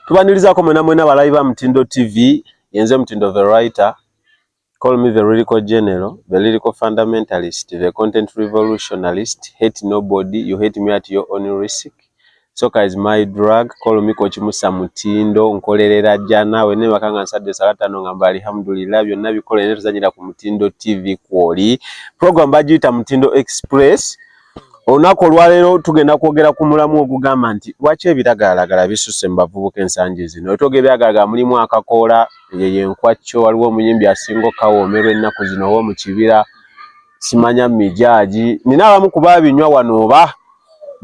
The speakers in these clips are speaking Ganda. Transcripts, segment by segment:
Tubanirizaako mwena mwena balabi ba Mutindo TV, yenze Mutindo the writer, call me the lyrical general, the lyrical fundamentalist, the content revolutionalist, hate nobody, you hate me at your own risk. Soka is my drug, call me Coach Musa Mutindo, nkolerera jana, wene wakanga nsade salata nonga mba alhamdulillah, vyo nabi kole netu zanyira ku Mutindo TV kuoli. Program bajita Mutindo Express, Olunaku olwaleero tugenda kwogera ku mulamu ogugamba nti lwaki ebiragalalagala bisusse mu bavubuka ensangi zino. Wetwogera ebiragalalagala mulimu akakoola, eyo yenkwaccyo, waliwo omuyimbi asinga okukawoomerwa ennaku zino ow'omu kibira, simanya mijaagi. Nina abamu ku babinywa wano oba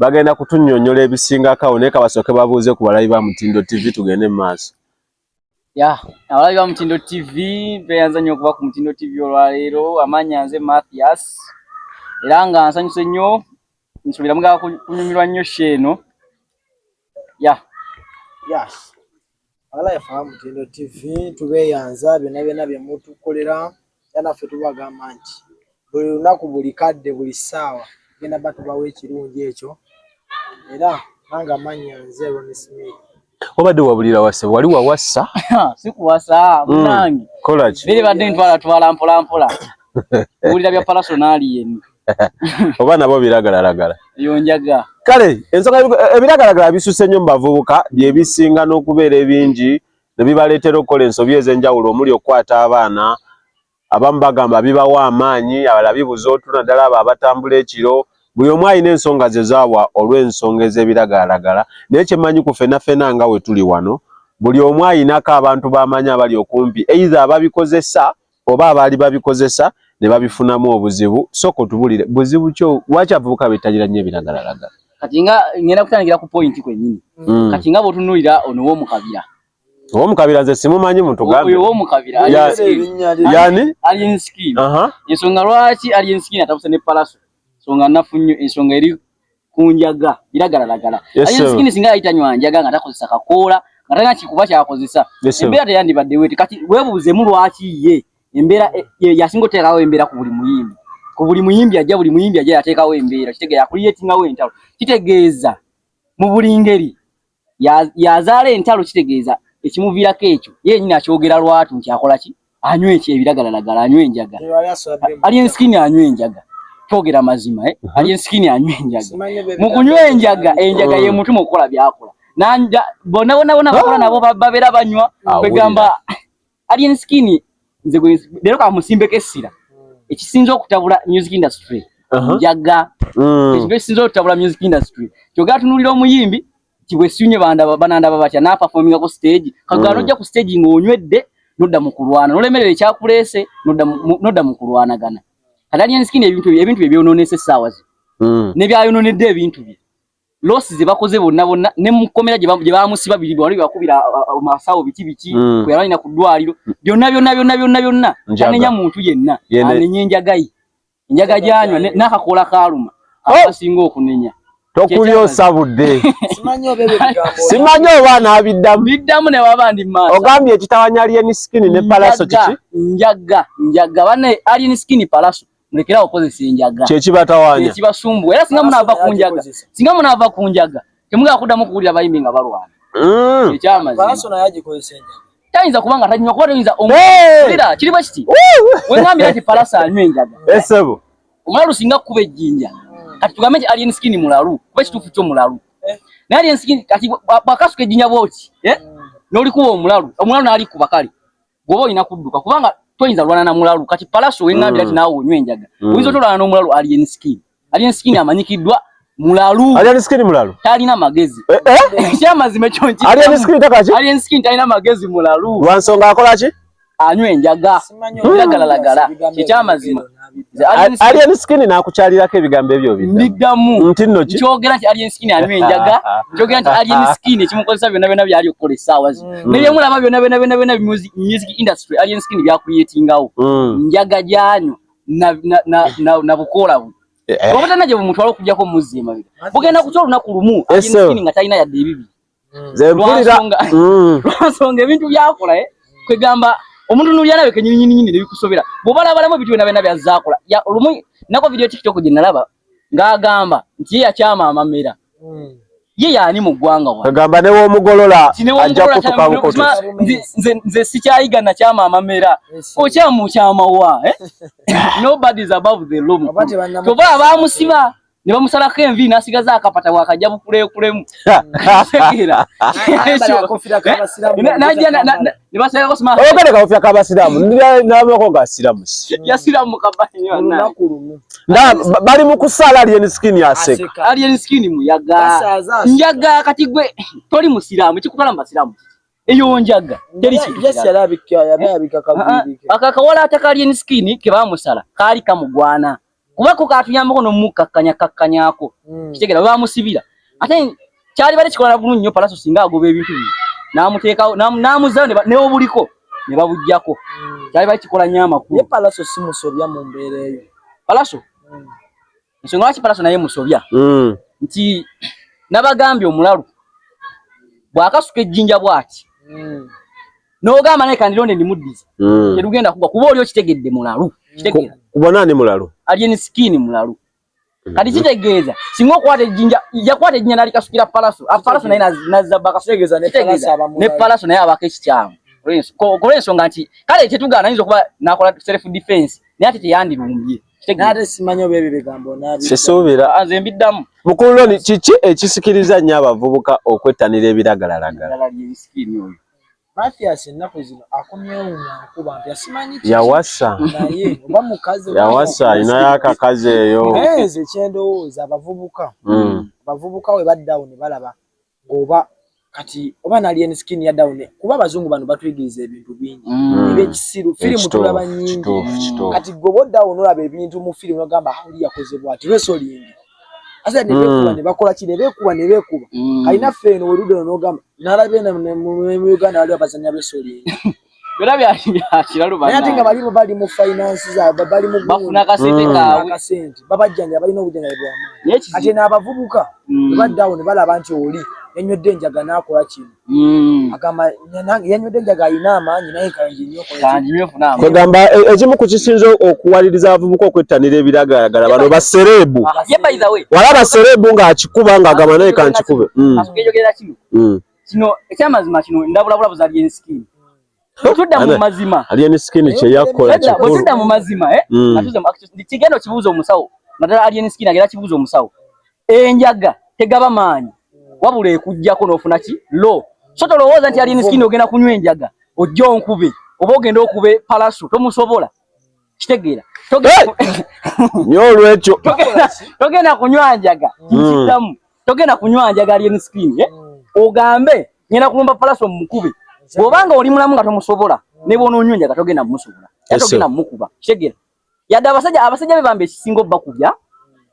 bagenda kutunyonyola ebisingako awo naye kabasooke babuuze ku balabi ba Mutindo TV tugende mu maaso. ya abalabi ba Mutindo TV beyanza nnyo okuba ku Mutindo TV olwaleero. Amaanya nze Mathias era nga nsanyuse nnyo nsuubira mugala kunyumirwa nnyo sho eno ya yes. Abalabi ba Mutindo TV tubeyanza byonna byonna bye mutukolera era naffe tubagamba nti buli lunaku buli kadde buli ssaawa genda ba tubawo ekirungi ekyo era nange amannya nze ron smith obadde wabulira wase wali wawasa sikuwasa munange mm, kolaki biri badde ntwala twala mpola mpola wulira bya palasonali yenu oba nabo biragalalagala yonjaga kale ensonga ebiragalagala bisuse nnyo mu bavubuka byebisinga n'okubeera ebingi ne bibaleetera okukola ensobi ez'enjawulo omuli okukwata abaana, abamu bagamba bibawa amaanyi, abalala bibuza otulo naddala abo abatambula ekiro, buli omu alina ensonga ze z'awa olw'ensonga ez'ebiragalalagala naye kye mmanyi ku ffena ffena nga we tuli wano buli omu alinako abantu b'amanyi abali okumpi either ababikozesa oba abaali babikozesa ne babifunamu obuzibu sooka otubulire buzibu kyo lwaki abavubuka bettanira nnyo ebiragalalagala kati nga ngenda kutandikira ku pointi kwennyini mm. kati nga bwotunuulira ono w'omukabira owomukabira nze simumanyi muntu gambe owomukabira yani alien skin ensonga lwaki alien skin atabuse ne palaso ensonga nafu nnyo ensonga eri ku njaga biragalalagala ayinza sikini singa yayita nywa njaga nga takozesa kakoola nga talina kikuba kyakozesa embeera teyandibadde weti kati webuuzemu lwaki ye embeera e, yasinga oteekawo embeera ku buli muyimbi ku buli muyimbi ajja buli muyimbi ajja yateekawo embeera kitegeeza yakuliyetingawo entalo kitegeeza mu buli ngeri yazaala entalo kitegeeza ekimuviirako ekyo ye yenyini akyogera lwatu nti akola ki anywa eki ebiragalalagala anywa enjaga ali ensikini anywa enjaga twogera mazima eh? uh-huh. ali ensikini anywa enjaga mu kunywa enjaga enjaga ye mutuma okukola byakola bonna bonna bona bakola nabo babeera banywa kwegamba Alien Skin nze gwe lero ka musimbeko essira ekisinze okutabula music industry uh-huh. njaga mm. ekintu ekisinze okutabula music industry kyoga atunulira omuyimbi kibwesunye banda bananda babatya na performing ku stage kagano mm. ojja ku stage ng'onywedde nodda mu kulwana nolemerera ekyakuleese nodda mu kulwanagana Alien Skin ebintu ebintu bye byononese saawa zi mm. ne byayononedde ebintu bye losi zebakoze bonna bonna ne mukomera gye bamusiba biri bwali bakubira masawo biki biki mm. kwe yalina ku ddwaliro mm. byonna byonna byonna byonna byonna anenya muntu yenna anenya enjaga ye enjaga gyanywa n'akakola kaaluma oh! akasinga okunenya tokuli osabudde simanyi oba anabiddamu biddamu newaba ndi maaso ogambye ekitawanya alien skin ne palaso kiki njaga njaga bane alien skin palaso mulekerawo okozesa enjaga kyekibatawanya kyekibasumbuwa era singa munaava ku njaga singa munaava ku njaga temugala kuddamu kuwulira bayimbi nga balwana mm. ekyamazima tayinza kuba nga tanywa kuba toyinza omulira kiri bwe kiti wengambira nti palasa anywa enjaga esebo eh, omulalu singa kukuba ejjinja hmm. kati tugambe nti alien skin mulalu kuba ekituufu kyo mulalu eh. naye alien skin kati bwakasuka ejjinja bwoti eh? hmm. nolikuba omulalu omulalu nalikuba kale goba olina kudduka kubanga toyinza lwana na mulalu kati palaso wengambira mm. ti naawe onywa enjaga mm. oyinza otolwana n'omulalu alien skin alien skin amanyikiddwa mulalu alien skin mulalu talina magezi eh, eh? ekyamazima ekyo nki alien skin takaki alien skin talina magezi mulalu lwansonga akola ki anywa enjaga lagalalagala ekyamazima alien skin nakukyalirako ebigambo ebyo biddamu nti nno ki kyogera nti alien skin anywa enjaga kyogera nti alien skin ekimukozesa byonna byonna byali okukola essaawa zino hmm. naye mulaba byonna byonna byonna byonna music industry alien skin byakuyetingawo hmm. njaga gyanywa na bukoola bwe eh, eh. obutana gye bumutwala okujjako muzzi emabega bugenda kutya olunaku lumu alien skin nga talina yadde ebibiri nze mpulira mm. lwansonga ebintu byakola eh? kwegamba omuntu nulyanawe kenyininyininyini nebikusobera bwobalabalamu ebintu byona byona byazakola olumu nako vidiyo tiktok gyenalaba ng'agamba nti ye yakyama amamera mm. ye yaani mu ggwanga agamba newomugolola ajja kutuka nze sikyayiga nakyama amamera okyamukyamawa eh? nobody is above the loom toba abamusiba ne bamusalako envi nasigaza akapata wakajja bukulekulemu oyogere kawofya kabasiramu nabako gasiramu bali mukusaala alien skin aseka alien skin muyaga njaga kati gwe toli musiramu kikutwala mubasiramu eyo njaga akakawala atakali en skin kebamusala kaali kamugwana kuba ko katuyambako nomukkakkanya kkakkanyako hmm. kitegera bamusibira ate kyali bale kikola nagulu nnyo palaso singa agoba ebintu bino namuteekawo namuzayo neobuliko ne babujjako hmm. kyali bale kikola nnyo amakulu ye palaso si musobya mu mbeera eyo palaso hmm. ensonga lwaki palaso naye musobya nti nabagambye omulalu bwakasuka ejjinja bwati n'ogamba naye kandironde ndimuddiza mm. terugenda kugwa kuba oli okitegedde mulalu kuba naani mulalu alyeni sikini mulalu mm. kati kitegeeza singa okwata ejjinja yakwata ejjinja nalikasukira palaso ah, palaso naye nazzabakasutegeeza ne palaso naye abako ekikyamu olwensonga nti kale kyetugaana ayinza okuba nakola self defense naye ate teyandirumbye nze mbiddamu mukululoni kiki ekisikiriza nnyo abavubuka okwettanira ebiragalalagala Mathias ennaku zino akomyewo nga nkuba mpya simanyi yawasa naye oba mukazi yawasa alinayo akakazi eyo naye nze kyendowooza abavubuka mm. abavubuka we baddawo ne balaba ng'oba kati oba nali en skin ya down kuba abazungu bano batuyigiriza ebintu bingi mm. ebyekisiru firimu tulaba nyingi kati gwe boddawo nolaba ebintu mu firimu nogamba huli ah, yakoze bwati lweso lindi asa ne bekuba mm. ne bakola kine bekuba ne bekuba mm. alina fe no werudo no gamba nalabe na mu Uganda wali abazanya besoli bera bya bya kiralu bana ati nga bali bali mu finance za bali mu bafuna ka sente mm. ka ka sente baba janja bali no kujanga bwa ma ati na abavubuka mm. ba down bala bantu oli enyo denja gana akola kine Mm. kwegamba e, ekimu ku kisinza okuwaliriza abavubuka okwettanira ebiragaagala bano basereebu ah, wala basereebu ng'akikuba ng'agamba naye kankikube mm. mm. kino ekyamazima kino ndabulabula buzalyensikini bwetudda mu mazima aliya ne skin kye yakola kikulu bwetudda mu mazima eh mm. natuze mu action kigenda kibuuza omusawo nadala aliya ne skin agera kibuuza omusawo enjaga tegaba maanyi wabula ekujjako n'ofuna ki lo so tolowooza nti aliya ne skin ogenda kunywa enjaga ojja onkube oba ogenda okube palaso tomusobola kitegeera nyo olwekyo togenda kunywa njaga nkidamu hmm. togenda kunywa njaga ali enscreen eh? hmm. ogambe ngenda kulumba palaso mumukube bwobanga oli mulamu nga tomusobola hmm. ne bwonoonywa enjaga togenda mumusobola togenda mumukuba kitegeera yadde abasajja abasajja be bamba ekisinga obakubya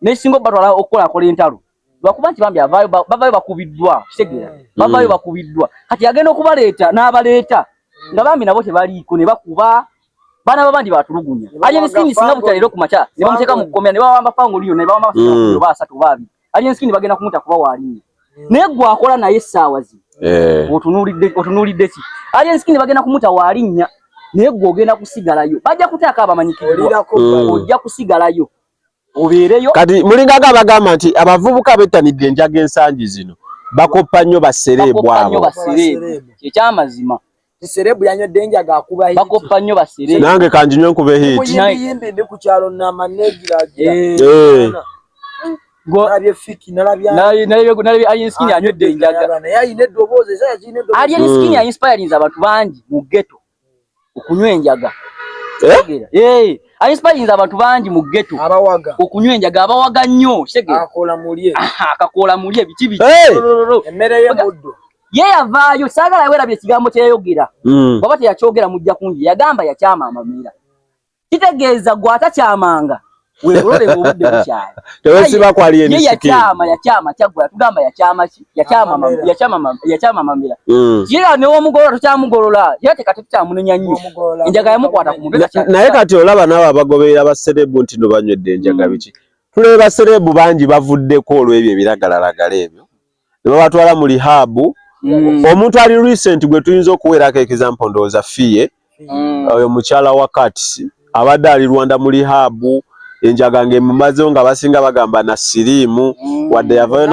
nekisinga obatwala okukola akola entalo lwakuba nti bambi avaayo bavaayo bakubiddwa kitegeera mm. bavaayo bakubiddwa kati agenda okubaleeta n'abaleeta mm. nga bambi nabo tebaliiko ne bakuba baana babandi batulugunya alyenskini singa butya leero ku makya ne bamuteeka mu kkomera ne bawamba fangoliyo ne bawamba mm. ba asatu oba abiri alyenskini bagenda kumuta kuba waalinya naye gwe akola naye essaawa zino eh. otunuulidde ki alyenskini bagenda kumuta waalinnya naye gwe ogenda kusigalayo bajja kutaako abamanyikiddwa ojja kusigalayo obeereyo kati mulingaga abagamba nti abavubuka bettanidde enjaga ensangi zino bakoppa nnyo basereebu abo kyekyamazima sereebu yanywedde enjaga akuba bakoppa nnyo basereebu nange kanjinywe nkuba ehiitiyimbi ndi ku kyalo nama negiragira eh. eh. nalabye inspirinze abantu bangi mu geto okunywa enjaga eh? eh, ainspayinza abantu bangi mu geto okunywa enjaga abawaga nnyo akakoola mulye biki biki ye yavaayo saagala werabye ekigambo kyeyayogera mm. baba teyakyogera mujja kungi yagamba yakyama amamiira kitegeeza gwe atakyamanga weerole ng'obudde bukyali tewesiba kwali emisiki yakyama yakyama kyaggwa tugamba yakyama ki yakyama yakyama yakyama mamira mm. ye ne omugolola tukyamugolola ye ate kati tukyamunenya nnyo enjaga yamukwata ku mubiri naye kati olaba nabo abagoberera baserebu nti no banywedde enjaga mm. biki tuleba serebu bangi bavuddeko olw'ebyo ebiragalalagala ebyo ne babatwala mu lihaabu mm. omuntu ali recent gwe tuyinza okuweerako ekizampo ndowooza fiye mm. oyo mukyala wa kats abadde ali rwanda mu lihaabu enjaga ng'emumazewo nga basinga bagamba na siriimu mm. wadde yavayo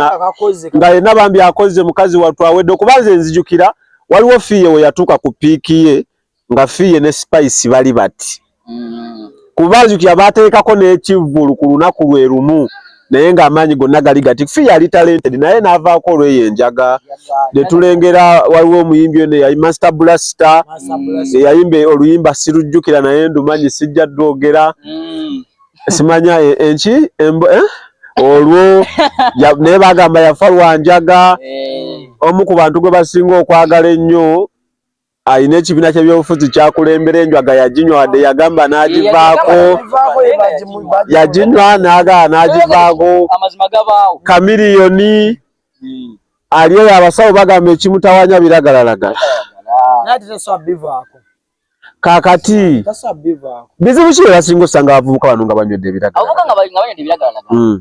nga yenna bambi akoze mukazi wattu awedde okuba nze nzijukira waliwo fiye we yatuuka ku piiki ye nga fiye ne spice bali bati mm. kuba nzukira bateekako n'ekivvulu ku lunaku lwe lumu naye ng'amaanyi gonna gali gati fi yali talented naye n'avaako olweyo enjaga ne tulengera waliwo omuyimbi ono eyayi master blaster eyayimba oluyimba sirujjukira naye ndumanyi sijja dwogera mm. simanya e, enki eh? olwo naye bagamba yafa lwanjaga eh. omu ku bantu gwe basinga okwagala ennyo alina ekibiina ky'ebyobufuzi kyakulembera enjwaga yaginywa wadde yagamba n'agivaako yaginywa n'agaa n'agivaako kamiriyoni hmm. ali eyo abasawo bagamba ekimutawanya biragalalagala kakati bizibu ki byebasinga osanga abavubuka bano nga banywedde ebiragalalagala hmm.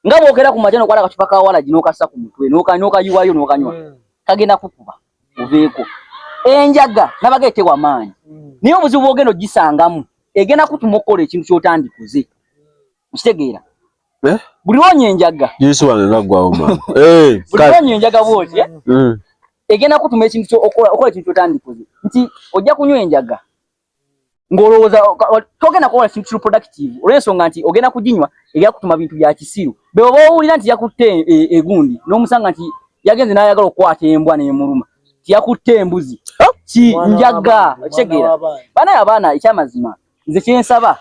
nga bwogera ku majani okwala akacupa ka walagi n'okassa ku mutwe n'okayiwayo n'okanywa hmm. kagenda kukuba oveeko enjaga nabaga etewa maanyi hmm. naye obuzibu bwogenda ogisangamu egenda kutuma okukola ekintu kyotandikuze okitegeera eh? buli wonya enjaga eh, buliwonya enjaga bwoti eh? hmm. egenda kutuma ekintu okola ekintu kyotandikuze nti ojja kunywa enjaga ng'olowooza togenda kukola kintu kiri productive olw'ensonga nti ogenda kuginywa erya kutuma bintu bya kisiru bebo b'owulira nti yakutte e, e, egundi n'omusanga nti yagenze n'ayagala okukwata embwa n'emuluma nti yakutte embuzi oh! ki njaga okitegeera banaye abaana ekyamazima nze kyensaba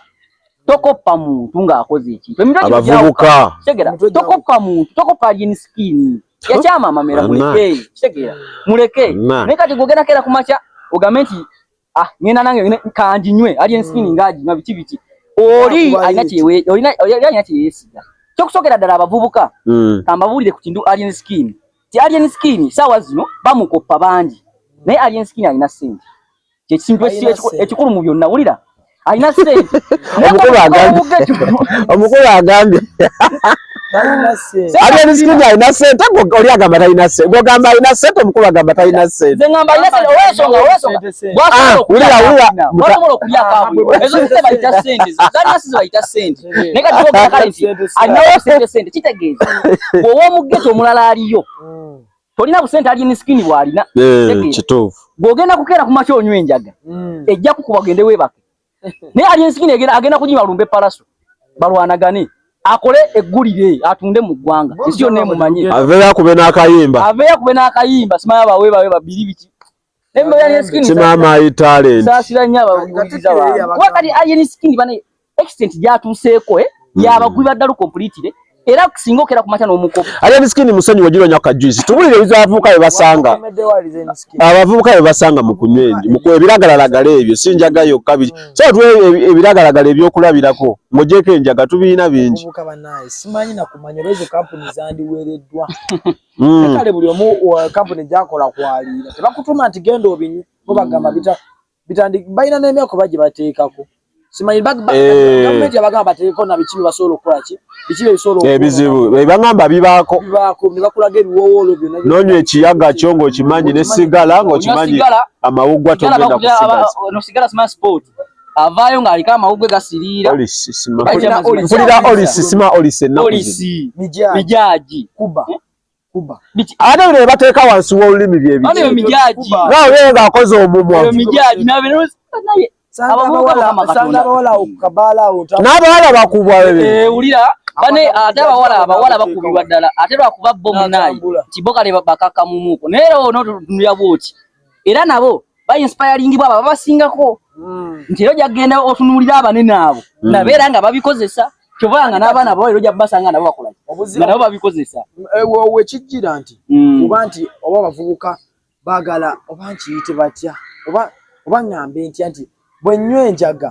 tokoppa muntu ng'akoze ekintu emitweabavubuka kitegera tokoppa muntu tokoppa alyeni sikiini yakyama amamera muleke kitegera muleke naye kati gwogendako era ku makya ogambe nti ah ngenda nange kanji nywe ali enskini mm. ngaji na biti biti oli alina kyewe oli na oli alina kyeyesiga kyo kusokera dala abavubuka mm. ambabulire ku kindu ali enskini ti ali enskini sawa zino bamukoppa banji naye ali enskini alina sente kye kintu ekikulu mu byonna wulira alina sente omukulu agambye omukulu agambye ate emisiki alina sente oli agamba talina sente gwogamba alina sente omukulu agamba talina senteowomugeto omulala aliyo tolina busente ali misikini bwalina eh, kituufu gwogenda kukeera ku makya onywa enjaga hmm. ejja kukuba gende weebake naye ali misikini agenda kunyima lumbe palaso balwanagane akole eggulire atunde mu ggwanga ensi yonna emumanye aveyo akube n'akayimba aveyo akube n'akayimba simaya bawe bawe babiri biki Emboya ne skin. Sima my talent. Sasira nya abaguliza ba. Kwa kali alien skin bana extent ya tuseko eh. Mm. Ya abaguli badalu complete eh. Era kusinga okera kumata no muko. Alien skin musanyi wajiro nya ka juice. Tubulire bizavuka ebasanga. Abavuka ebasanga mukunywendi. Muko ebiragala lagale ebyo sinja gayo kabiri. Mm. So tuwe e, ebiragala lagale ebyo kulabirako. Mojeke njaga tubina bingi. Muko ba nice. Simanyi na kumanya rezo company zandi weredwa. Mm. Kale buli omu wa company gyakola kwaliira tebakutuma nti genda obinye bo bagamba bita bitandi balina n'emyaka oba gye bateekako simanyi eh. gavumenti yabagamba bateekeko na biki byebasobola okukola ki biki byebisobola eh, ebizibu bebagamba bibaako bibaako ne bakulaga ebiwoowoolo byonna noonya ekiyaga kyo ng'okimanyi ne sigala ng'okimanyi amawuggwa togenda kusigaza no sigala simanyi sipooti avaayo ng'aliko amawugwe gasiriira mpulira olisi sima olisi ennakuzi mijaagi kuba eh? ate bino bebateeka wansi w'olulimi byebinaye ng'akoze omumwa n'abawala bakubwa wulira bane ate abawala abawala bakubibwa ddala ate lwakuba bo munaye nti bo kale bakakkamumuuko naye era onotunulira bwoti era nabo ba inspiring baba babasingako mm. nti yo jagenda otunulira abanene abo mm. nabera nga babikozesa kyovanga n'abaana bo era ojja kubasanga nabo bakola nga nabo babikozesa eh, we kijjira nti mm. oba nti oba bavubuka baagala oba nkiyite batya oba oba ŋŋambe ntya nti bwe nnywa enjaga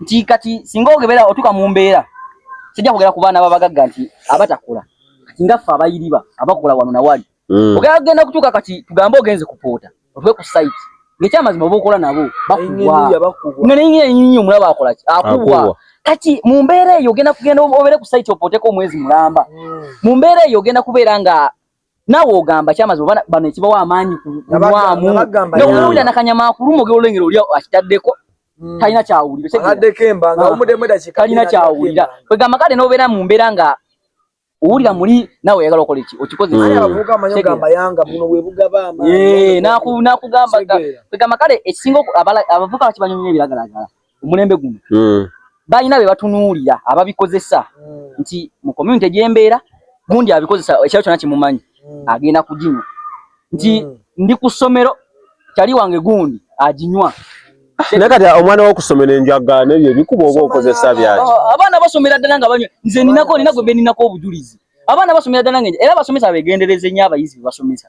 nti kati singa ogebera otuka mu mbeera sijja kugera ku baana babagagga nti abatakula kati nga ffe abayiriba abakula wano nawali mm. ogera kugenda kutuuka kati tugambe ogenze kupoota otuke ku site ngekyamazima oba okola nabo bakuwanga neyingira enyinyi omulaba akolaki akuwa kati mu mbeera eyo ogenda kugenda obere ku site opooteko omwezi mulamba mm. mu mbeera eyo ogenda kubeera nga nawe ogamba kyamazi obana bano ekibawa amaanyi kulwamu nowulira nakanyama akuluma ogera olengera oli akitaddeko hmm. talina kyawuliratalina ah. kyawulira kwegamba kale nobeera mu mbeera nga owulira muli nawe oyagala okola eki okikozekugamba kale ekisinga abavuka bakibanyonyo ebiragalagala omulembe guno hmm. balina be batunuulira ababikozesa hmm. nti mu community gyembeera gundi abikozesa ekyalo kyona kimumanyi hmm. agenda kuginywa nti ndi ku ssomero kyali wange gundi aginywa naye kati omwana wokusomera enjaga nebyo ebikuba oba okozesa byaki oh, oh, abaana basomera ddala nga banywa nze ninako ninagwe beninako obujulizi abaana basomera ddala nga era abasomesa begendereze nyo abayizi bebasomesa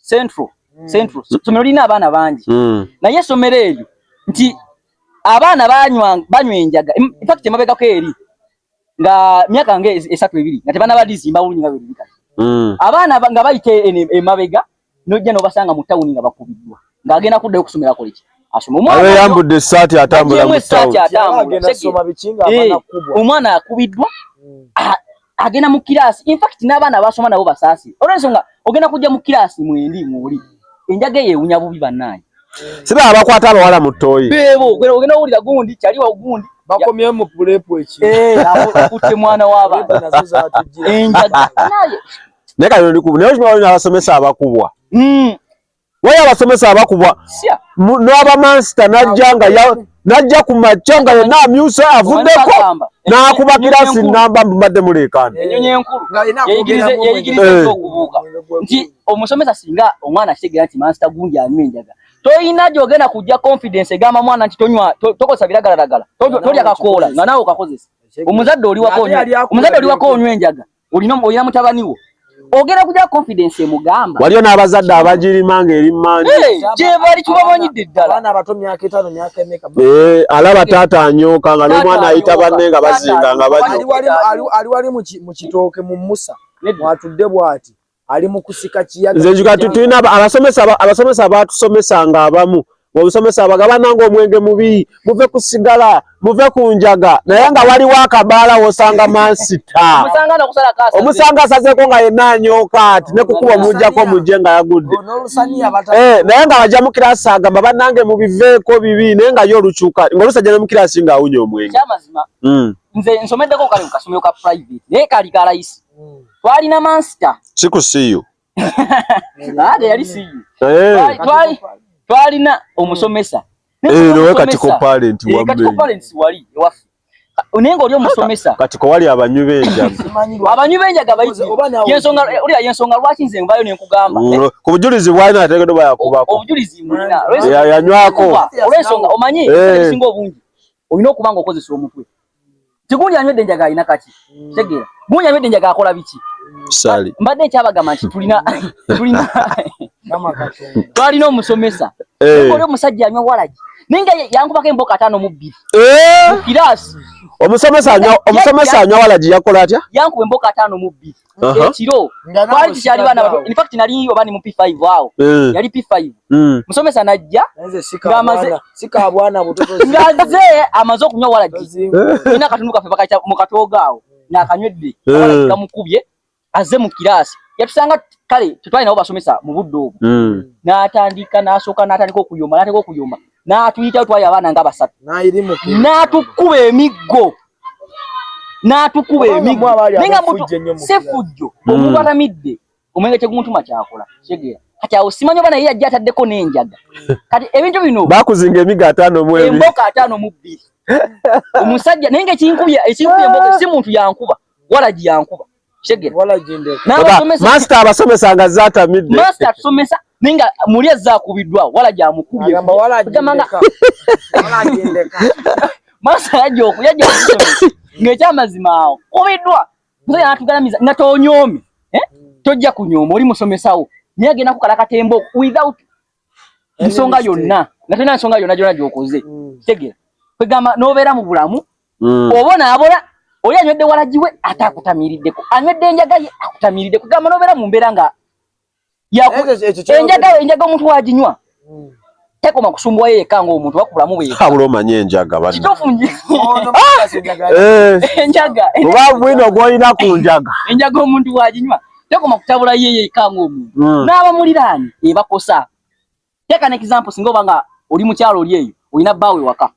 central mm. central somero lina abana bangi mm. naye somero elyo nti abana banywa banywa enjaga in fact emabega ko eri nga miaka nge esatu ebiri nga tebana badizi mba wunyi nga biri kati mm. abana nga bayite emabega nojja no basanga mu town nga bakubidwa nga agenda kudda okusomera ko liki asoma omwana ayo yambudde essati atambula mu town omwana akubidwa mm. ah, agenda mu kiraasi infact n'abaana basoma nabo basaasi olwensonga ogenda kujja mu kiraasi mwendi mwoli enjaga eyo ewunya bubi bannaanyi siba abakwata abawala mu ttooyi beebo ogenda owulira gundi kyali wa gundi bakomyewo mu pulepu eki eh, akutte mwana w'abantu nazo zatujjira enjaga naye naye kati naye okimanyi abasomesa abakubwa hmm. wali abasomesa abakubwa n'abamansita najja nga najja ku makya nga yenna amyuse avuddeko n'akuba kiraasi namba mbadde muleekaana nti omusomesa singa omwana akitegera nti mansita gundi anywa enjaga toyina gyogenda kujja confidence egamba mwana nti tonywa tokozesa biragalalagala tolya kakoola nga naawe okakozesa omuzadde oliwako onywa enjaga olina olina mutabani wo ogenda kuja confidence emugamba waliyo n'abazadde abagirima nga eri mangi gyebali kibamanyidde ddala eh, alaba taata anyooka nga n'omwana ayita banne nga bazinga nga baali wali mu kitooke mu musa mwatudde bwati ali mu kusika kiyaga. Nze njuga tutulina abasomesa abasomesa baatusomesa nga abamu obusomesa abagabana nga omwenge mubi muve ku sigala muve ku njaga naye nga waliwo akabaala wosanga mansita omusanga asazeeko nga yenna anyooka ati ne kukuba omujjako omujje nga yagudde eh, naye nga wajja mu kirasi agamba bannange mubiveeko bibi naye nga yo olukyuka ngaolusajja ne mu kirasi nga awunya omwenge hmm. nze nsomeddeko kale kukasomero ka private naye kali kalayisi twalina mansita sikusiyo ate yali siyo eh. twalina omusomesa eh, wali ewaffe naye ngaoli omusomesa kati kowali abanywi benjagaabanywi benjaga bayiiyensongaolya yensonga lwaki nze nvayo nenkugamba mm, eh? ku bujulizi bwalina ategedo bayakubako obujulizi yanywako olwensonga omanyi esinga obungi olina okuba nga okozesa omutwe Tigundi anywedde njaga alina kaki mm. tegeera gundi anywedde njaga akola biki sali mbadde nkyabagamba nti tulina tulina twalina omusomesa eh. oli omusajja anywa walagi naye nga yankubako emboka ataano mu bbiri eh. mukiraasi omusomesa anywa walagi yakola atya yankuba emboka ataano mu bbiri ekiro twali tukyali baana bato in fact nali oba ni mu P5 awo eh. yali P5 hmm. musomesa najja ngaze amaze okunywa walagi eh. ina katundu kafe bakaca mu katoga awo hmm. nakanywedde eh. gamukubye aze mu kirasi yatusanga kale tutwali nabo basomesa mu budde obwo hmm. n'atandika n'asooka n'atandika okuyoma n'atandika okuyoma n'atuyitayo twali abaana nga basatu n'atukuba emiggo n'atukuba emiggo naye nga mutu si fujjo hmm. omuntu atamidde omwenge tegumuntuma kyakola kitegeera kati awo simanyi oba naye yajja ataddeko n'enjaga kati ebintu bino bakuzinga emigo ataano mu ebiri emboka ataano mu bbiri omusajja naye nga ekinkubya ekinkubya emboka si muntu yankuba walagi yankuba Master abasomesa nga zatamidde. Master atusomesa ninga muli ezakubiddwa wala gya mukubye. Agamba wala agendeka. Wala agendeka. Master yaje okuyaje okusomesa. Ng'ekyamazima awo kubiddwa. Mzee anatugalamiza nga tonyomi. Eh? Tojja kunyooma oli musomesawo. Naye agenda kukalakata emboko without nsonga yonna nga tolina nsonga yonna gyona gyokoze mm. tegera kwegamba nobeera mu bulamu mm. oba onaabola oli anywedde walagi we ate akutamiiriddeko anywedde enjaga ye akutamiiridde kwegamba nobeera mu mbeera nga enjaga enjaga omuntu waginywa mm. tekoma kusumbuwa yeye kanga omuntu wakulamu bwe habula omanye enjaga bana kitofu enjaga oba bwino gwolina ku njaga enjaga omuntu waginywa tekoma kutabula ye yekka ng'omuntu mm. n'abamuliraanye ebakosa teeka ne kizampo singa oba nga oli mukyalo oli eyo olina bbaawo ewaka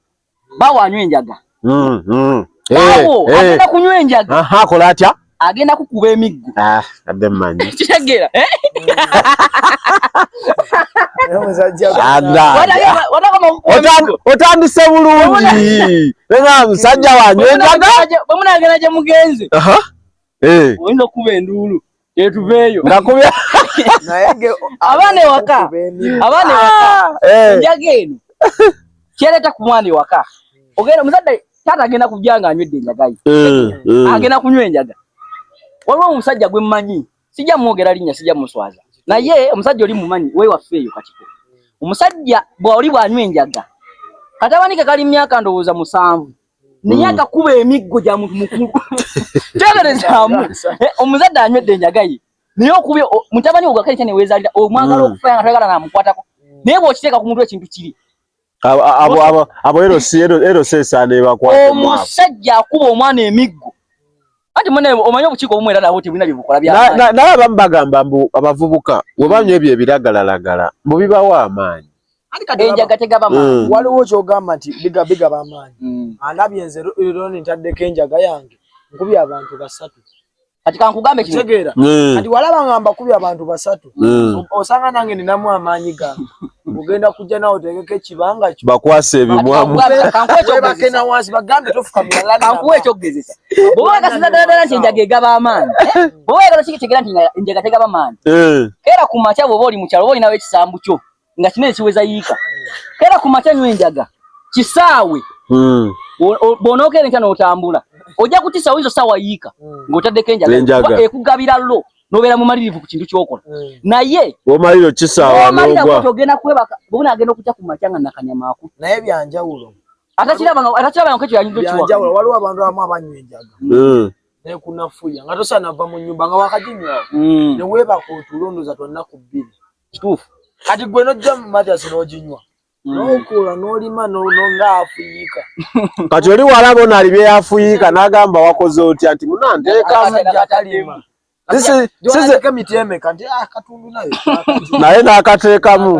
bbaawo anywa enjaga mm, mm. bbaawo eh, eh. agenda kunywa enjaga akola atya agenda kukuba emiggo ah, adde mmanyi kitegeera eh? otandise bulungi musajja wanyu enjaga bwemunagenda gye mugenze Eh. oyinza okukuba enduulu etuveeyo abaana ewaka abaana ewaka ah. eh. enjaga eno kyereta ku mwana ewaka ogenda omuzadde taata agenda kujja nga anywedde enjaga ye eh, agenda kunywa enjaga waliwo omusajja gwe mmanyi sijja mwogera linnya sijja muswaza naye omusajja oli mumanyi wewaffe eyo katiko omusajja bwoli bwanywa enjaga katabanike kali myaka ndowooza musanvu naye agakuba hmm. emiggo gya muntu mukulu teberezaamu eh, omuzadde anywedde enjaga ye naye okubye mutabani wo gakale kyaneweezalira omwagala hmm. okufa nga toyagala namukwatako naye bw'okiteeka ku muntu ekintu kiri abo erosesaana ebakwata omusajja akuba omwana emiggo anti mune omanyi obukiiko obumu era nabo tebulina byebukola byanaye abamu bagamba mbu abavubuka webanywa ebyo ebiragalalagala mbu bibawo amaanyi enjaga tegaba mm. maanyi waliwo kyogamba nti biga biga ba maanyi mm. alabye nze lero ntaddeko enjaga yange nkubye abantu basatu kati kankugambe kitegeera mm. kati walaba nga mbakubye abantu basatu osanga nange ninamu amaanyi gange ogenda kujja nawe otegeko ekibanga kyo bakwasa ebimwamubake na wansi bagambe tofukamirakankuwa ekyokugezesa bwoba wagasiza daladala nti enjaga egaba amaanyi bwoba wagala kikitegera nti enjaga tegaba maanyi eh. era ku makya bwoba oli mukyalo oba olinawo ekisambu kyo nga kino ekiweza yiika era ku makya nywa enjaga kisaawe hmm. bw'onookeera enkya n'otambula ojja kutisa oyinza osaawa yiika hmm. ng'otaddeko enjaga ekugabira lo nobeera mumalirivu ku kintu kyokola hmm. naye omaliro kisaawaogenda kwebaka bona agenda okutya ku makya nga nakanyama aku naye byanjawulo atakirabaatakirabaaekyoyanyudokiwajawulo waliwo abantu abamu abanywa enjaga nekunafuya nga tosanava mu nyumba nga wakajinywawo newebaka otulo ndoza twannaku bbiri Kituufu. Kati gwe nojja mu Mathias n'oginywa hmm. n'okola n'olima nga afuyiika. Kati oli wala bona ali bye yafuyiika n'agamba wakoze otya nti muna nteekamu. Naye n'akateekamu.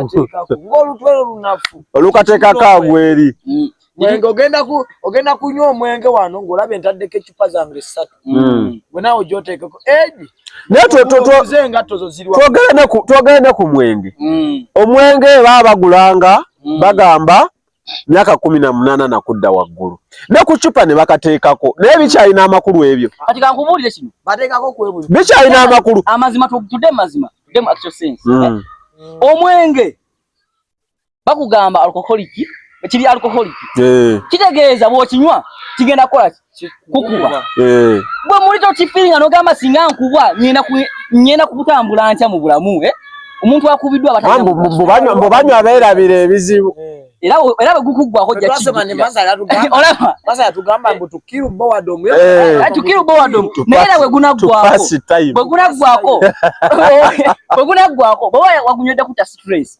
Ng'olutwe lunafu. Olukateekako agweri. Hmm. mwenge ogenda ku ogenda kunywa omwenge wano ng'olaba entaddeko eccupa zange ssatu hmm. gwe naawe gyoteekeko egi twogere ne ku mwenge hmm. omwenge baa bagulanga hmm. bagamba myaka kumi na munaana nakudda waggulu ne ku ccupa ne bakateekako naye bikyalina amakulu ebyo bikyalina amakulu amazima tude mazima tude mu actual sense eh? omwenge bakugamba alcoholic kiri alcoholic eh. kitegeeza bw'okinywa kigenda kukola kukuba eh. bwe muli tokifiringa n'ogamba singa nkubwa ngenda kutambula ntya mu bulamu eh? omuntu akubiddwa abatbanywa abeerabira ebizibu era bwe gukuggwako jjakitukirubbowadomunaera bwe gunaggwako bwe gunaggwako bwe gunaggwako bwe wagunywedde kuta stress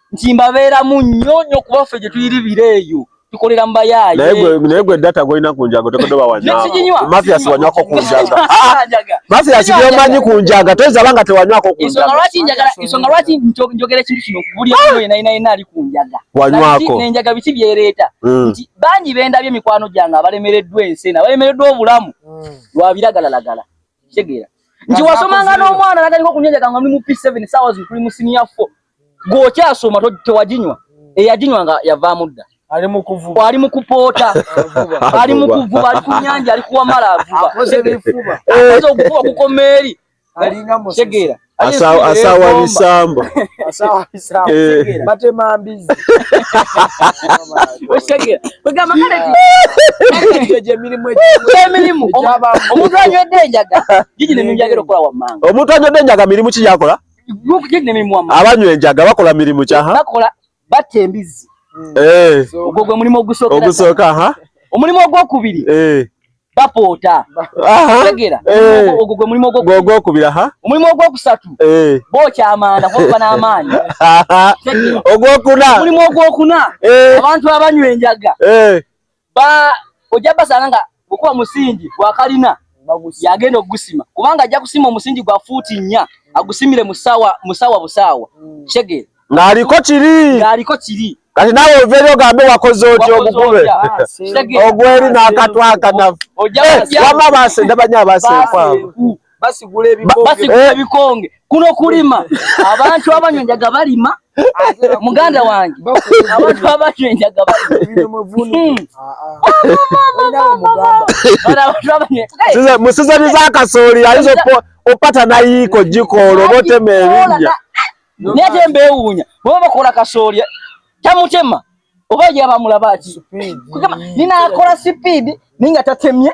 nti mbabeeramu nnyo nnyo kuba ffe gye tuyiribira eyo tukolera mu bayaaye naye gwe data gwolina ku njaga otekodoba wanyamafiasi wanywako ku njaga mafiasi byomanyi ku njaga toyinza banga tewanywako ku njagaensonga lwaki njogera ekintu kino buli omu yena yena yena ali ku njaga wanywako nenjaga biki byereeta hmm. nti bangi bendabye emikwano gyange abalemereddwa ensi ena abalemereddwa obulamu hmm. lwabiragalalagala kitegeera nti wasomanga n'omwana natandika okunywa enjaga nga muli mu p7 sawa zikuli mu siniya 4 gwokyasoma tewaginywa eyaginywa nga yavaamu dda ali mu kuvuba ali mu kupoota ali mu kuvuba ali ku nyanja ali kuwamala avuba akoze ebifuba akoze okuvuba kukoma eri alinga musegeera asawa bisambo omuntu anywedde enjaga mirimu kiyakola abanywa enjaga bakola mirimu kyaha batta embizzi eh. ogwo gwe mulimu ogusooka omulimu ogwokubiri eh. bapoota tegera eh. ogwo gwe mulimu ogwokubiri omulimu ogwokusatu bokyamaana kuba n'amaanyi ogwokuna omulimu ogwokuna abantu abanywa enjaga ba ojja basanga nga bwekuba musingi gwa kalina yagenda okugusima kubanga ajja kusima omusingi gwa fuuti nnya agusimire musawa musawa busaawa mm. kitegeera ng'aliko kiri ng'aliko kiri kati nawe oveeri ogambe wakoze oti ogugube ogweri n'akatwakanafu wama baasenda banyo abaaseekwabo basigula ebikonge eh. kuno kulima abantu abanywa enjaga balima muganda wange abantu abanywa enjaga musizani za kasooli ayinza opata nayiiko gikoolo botema ebinja naye te mbeewuunya baba bakola kasooli tamutema oba yabamulaba ki nina akola sipiidi naye nga tatemye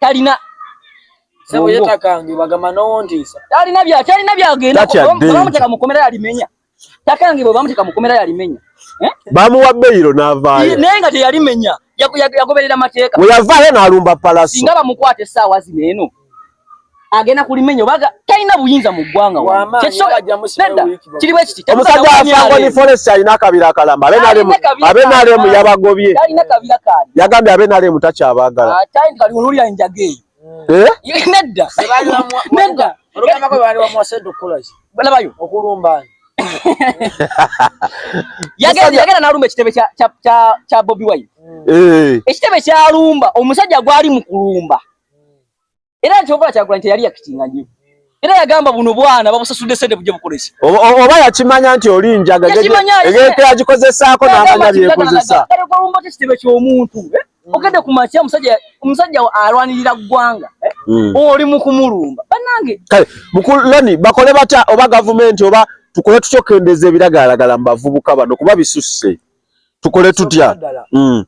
talina talina bya talina byagenda bamuteka mu komera yalimenya takange bwe bamuteka mu komera yalimenya eh? bamuwa beyiro n'avaayo naye nga teyalimenya yagoberera mateeka we yavaayo n'alumba palasi singa bamukwata essaawa zino eno agenda kulimenya obaga talina buyinza mu ggwanga omusajja afango ni forest alina akabira akalamba abenalemu yabagobye yagambye abenalemu takyabagala yagenda nalumba ekitebe kya bobi wine eh. ekitebe kyalumba omusajja gwali mu kulumba era nti okola kyagulanyi teyali yakitinga nyo era yagamba buno bwana babusasudde sente bujja bukozesa oba yakimanya nti oli njaga egekeyagikozesaako namanya byekozesa olumbatekitebe kyomuntu eh? mm. ogende ku makya omusajja omusajja alwanirira ggwanga eh? mm. oli mukumulumba banange kale mukuloni bakole batya oba gavumenti oba tukole tukyokendeza ebiragalalagala mu bavubuka bano kuba bisusse tukole tutya mm.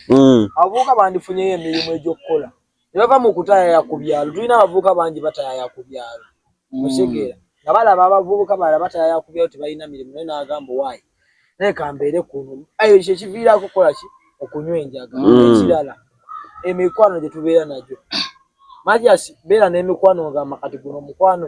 mm. abavubuka bandifunyeyo emirimu egyokukola nebava mu kutayaya ku byalo tulina abavubuka bangi batayaya ku byalo musegeera mm. nga balaba abavubuka bala batayaya ku byalo tebalina mirimu naye nagamba owaayi naye kambeere kuno ayo ekyo ekiviiraako kukola ki okunywa enjaga ekirala emikwano gyetubeera nagyo majasi beera n'emikwano ngamba kati guno omukwano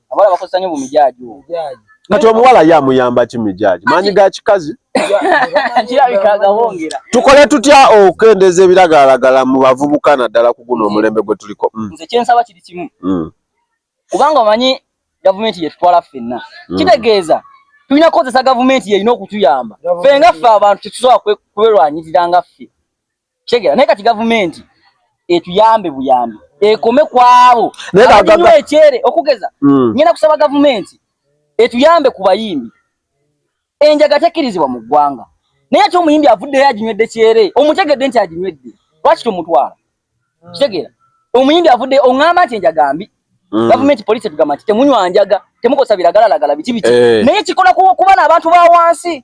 Abala bakosa nyo mumijaji wo. Mujaji. Kati omuwala ye amuyamba ki mijaji? Manyi ga kikazi. Tukole tutya okukendeza ebiragalalagala mu bavubuka naddala ku guno omulembe gwe tuliko? Mm. Nze kye nsaba kiri kimu. Mm. Kubanga omanyi gavumenti yetutwala ffenna. Mm. Kitegeeza tulina kukozesa gavumenti yerina okutuyamba. Ffe nga ffe abantu tetusobola kwerwanyirira nga ffe. Kitegera naye kati gavumenti etuyambe buyambi ekome kwabo abanywa ekyere okugeza mm. ngenda kusaba gavumenti etuyambe ku bayimbi enjaga tekkirizibwa mu ggwanga naye ate omuyimbi avuddeyo aginywedde kyere omutegedde nti aginywedde lwaki tomutwala mm. kitegera omuyimbi avuddeyo oŋŋamba nti enjaga mbi Mm. gavumenti poliisi etugamba nti temunywa njaga temukosa biragalalagala biki biki eh. naye kikola kuba n'abantu ba wansi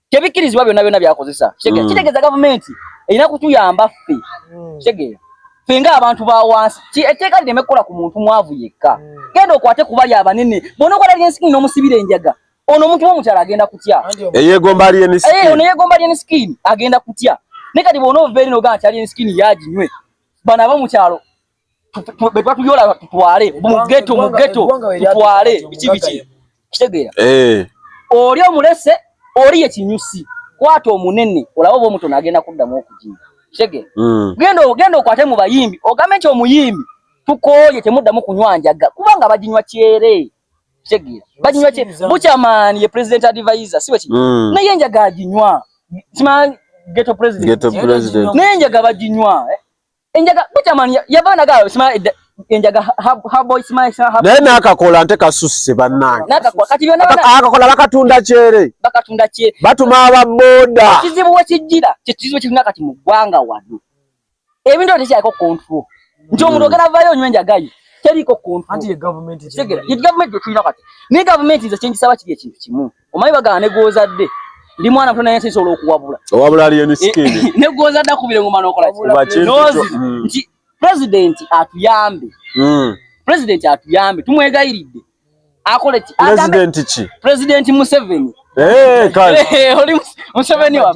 tebikkirizibwa byonna byonna byakozesa kitegeera mm. kitegeeza gavumenti erina kutuyamba ffe mm. kitegeera ffe nga abantu ba wansi etteeka lireme kukola ku muntu mwavu yekka mm. genda okwate kubali abanene bona okola lyensikini n'omusibira enjaga ono omuntu womukyala agenda kutya eyegomba alyensikini eh, agenda kutya ne kati bona ovaeri nogaa nti alyensikini yaginywe bano aba mukyalo bwetwatuyola tutwale mugeto mugeto tutwale biki biki kitegeera eh. oli omulese oli ekinyusi kwata omunene olaba oba omutono agenda kuddamu okujinga kitegeera hmm. genda ogenda okwate mu bayimbi ogambe nti omuyimbi tukooye temuddamu kunywa njaga kubanga baginywa kyere kitegeera baginywa kyere bukyamaani ye president advisor si wekiri hmm. naye enjaga aginywa kima geto president naye enjaga baginywa eh? enjaga butaman yavana ga sima enjaga ha boy sima sima ha naye nakakola nte kasusse banange nakakola kati byona akakola bakatunda kyere bakatunda kyere batuma aba boda kizibu we kijira kizibu kirina kati mu gwanga wano ebintu tekyako control nti omuntu hmm. ogenda vayo onywa enjaga ye teriko control anti ye government ye government ye tulina kati ne government nze kyengisaba kiri ekintu kimu omanyi bagala ne gwozadde ndi mwana muto naye nsisobola okuwabula owabula aliyo ne sikindi eh, ne gwozadde akubire ngoma nokola nozi hmm. nti president atuyambe hmm. president atuyambe tumwegayiridde akole ki president ki president museveni eh kale eh, oli museveni wa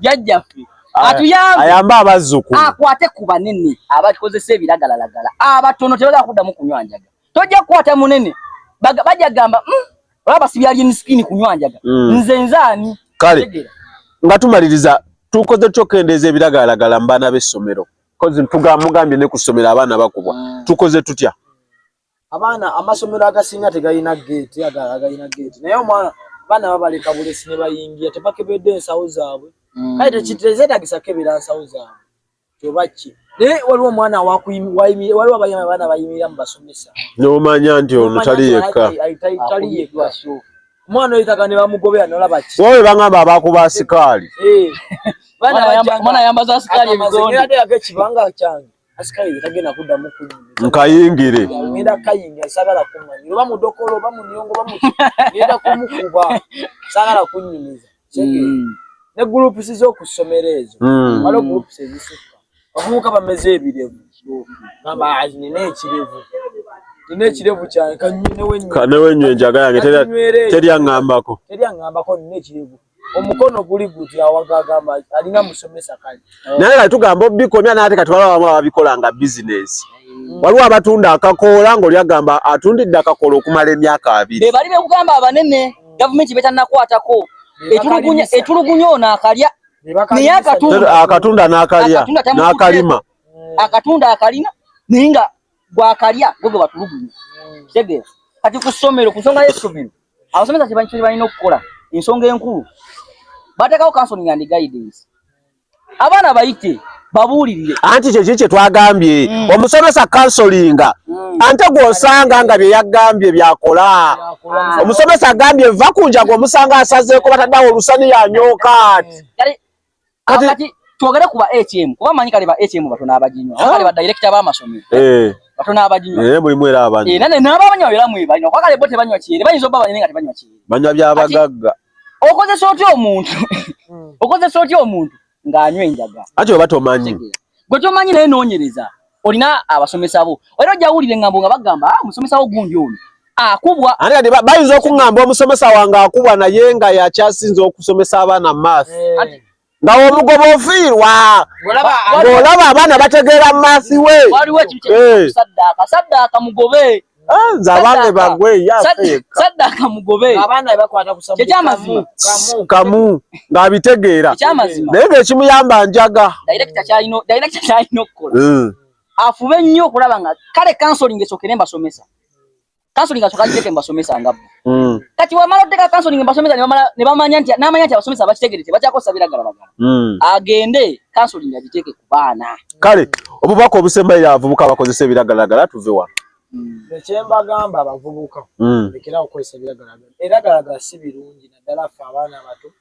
jajja fi Ah, atuyambe ayambe abazzukulu akwate ku banene abakozesa ebiragalalagala abatono tebagala kuddamu kunywa njaga tojja kukwata munene bajja gamba mm, olaba sibya alien skin kunywa njaga mm. nze nzaani kale nga tumaliriza tukoze kyokendeeza ebiragalalagala mu baana b'essomero kozi ntugamugambye ne ku ssomero abaana bakubwa mm. tukoze tutya abaana amasomero agasinga tegalina geeti agalina geeti naye omwana abaana babaleka bulesi ne bayingira tebakebedde ensawo zaabwe mm. kale tekizetagisa kebera nsawo zaabwe oba ki naye waliwo omwana waliwo abaana bayimirira mu basomesa n'omanya nti ono tali yekka omwana oyo taga ne bamugobera nolaba ki wawe bangamba abakuba asikaali eh. omwana ayambaza asikaali ebigonde ate yake kibanga kyange asikaali yetagenda kuddamu ku nkayingire ngenda kayingira sagala kumanya oba mudokolo oba munyongo oba muki ngenda kumukuba sagala kunyumiza mm. ne groups z'oku ssomero ezo mm. waliwo groups ezisukka abavubuka bameze ebirevu gamba azi nina ekirevu nina ekirevu kyange kanewenywe enjaga yange teri aŋambako teri aŋambako nina ekirevu omukono guli guti awaga agamba alina musomesa kale oh. naye kati tugamba obikomya naye ate kati waliwo abamu ababikola nga bizinesi waliwo abatunda akakoola ng'oli agamba atundidde akakoola okumala emyaka abiri be bali bekugamba abanene gavumenti betannakwatako etulugunya ono akalya naye akatunda n'akalya n'akalima akatunda akalina naye nga gwakalya gwe gwe batulugunya kitegeera kati ku ssomero ku nsonga y'essomero abasomesa kye balina okukola ensonga enkulu bateekawo counseling and guidance abaana bayite babuulirire anti kyekyo kye twagambye mm. omusomesa kansolinga mm. ante gw'osanga nga bye yagambye byakola omusomesa agambye va ku njaga omusanga asazeeko bataddawo olusani yanyooka ati mm. kati twogere ku ba atm kuba manyi kale ba atm batono abaginywa ah. kale ba director ba masomero eh. batono abaginywa eh, mulimu era abanyi era ne nabo abanywa era mwe banywa kwa kale bote banywa kyere banyizo baba nyinga tebanywa kyere banywa bya bagagga okozesa otya omuntu hmm. okozesa otya omuntu ng'anywa enjaga ati oba tomanyi gwe tomanyi naye nonyereza olina abasomesa bo era ojja wulira engambo nga bagamba ah, omusomesa wo gundi ono akubwa ate kati bayinza okuŋŋamba omusomesa wange akubwa naye nga yakyasinza okusomesa abaana maath eh. nga omugoba ofiirwa ng'olaba abaana bategeera maathi we waliwo ekintu eh. saddaaka saddaaka mugobe Ah, nze abange bagwe saddaka mugobe kyekyamazima kamu ng'abitegeera naye ng'ekimuyamba njaga hmm. afube nnyo okulaba nga kale kansoling esokere mbasomesa kansoling asoka kiteke mbasomesa ngabbo mm. kati wamala oteka counseling mbasomesa nebamala nebamanya nti namanya nti abasomesa abakitegerete bakyakosa biragalagala mm. agende counseling agiteke ku baana kale obubaka obusembaire abavubuka bakozesa ebiragalagala tuve wano mm. ekyembagamba abavubuka mm. lekerawo kukozesa ebiragalagala ebiragalagala si birungi naddala ffe abaana abato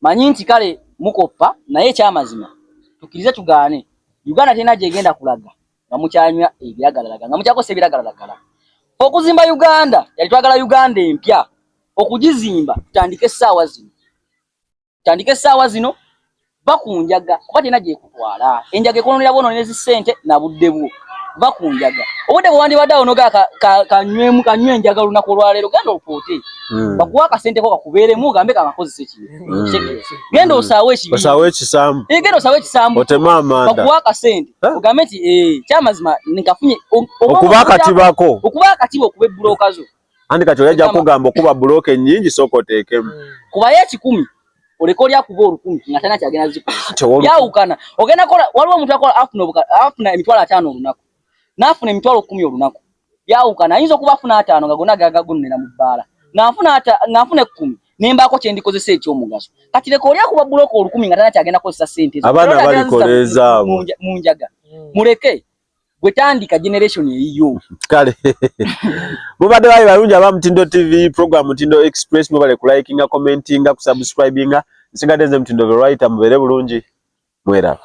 manyi nti kale mukoppa naye ekyamazima tukirize tugaane Uganda terina gyegenda kulaga nga mukyanywa ebiragalalaga nga mukyakozesa ebiragalalagala okuzimba Uganda yali twagala Uganda empya okugizimba tutandike essaawa zino tutandike essaawa zino bakunjaga kuba terina gyeku twala enjaga ekononera bwononera ezi ssente na budde bwo va ku njaga obudde bwe wandibadde awo noga kanywemu kanywe enjaga olunaku olwaleero genda opoote hmm. bakuwa akasente ko kakubeeremu ogambe kakakozesa ekibi hmm. genda osaawo ekibiosaawo ekisambu eh, genda osaawo ekisambu otema amanda bakuwa akasente ogambe nti eh, kyamazima nkafunye okuba akatibako okuba akatiba okuba ebbulokazo Andi kati oyajja kugamba okuba block ennyingi soko tekemu. Hmm. Kuba ye kikumi. Oleko lya kuba olukumi nga tana kyagenda ziko. Ya ukana. Ogenda kola waliwo omuntu akola afuna obuka afuna emitwalo atano olunaku. Nafuna emitwalo 10 olunaku. Ya ukana ayinza okuba afuna atano nga gona gaga gunnera mu bbala. Nafuna ata nafuna 10 nembaako kye ndikozesa ekyomugaso kati leka oli akuba bulooka olukumi nga tana kyagenda kozesa sente abaana balikoleeza abo mu njaga hmm. muleke gwe tandika generation eyiyo kale mubadde bali balungi aba mutindo tv program mutindo express mubale kulikinga commentinga kusubscribinga nsigadde nze mutindo verita mubeere bulungi mweraba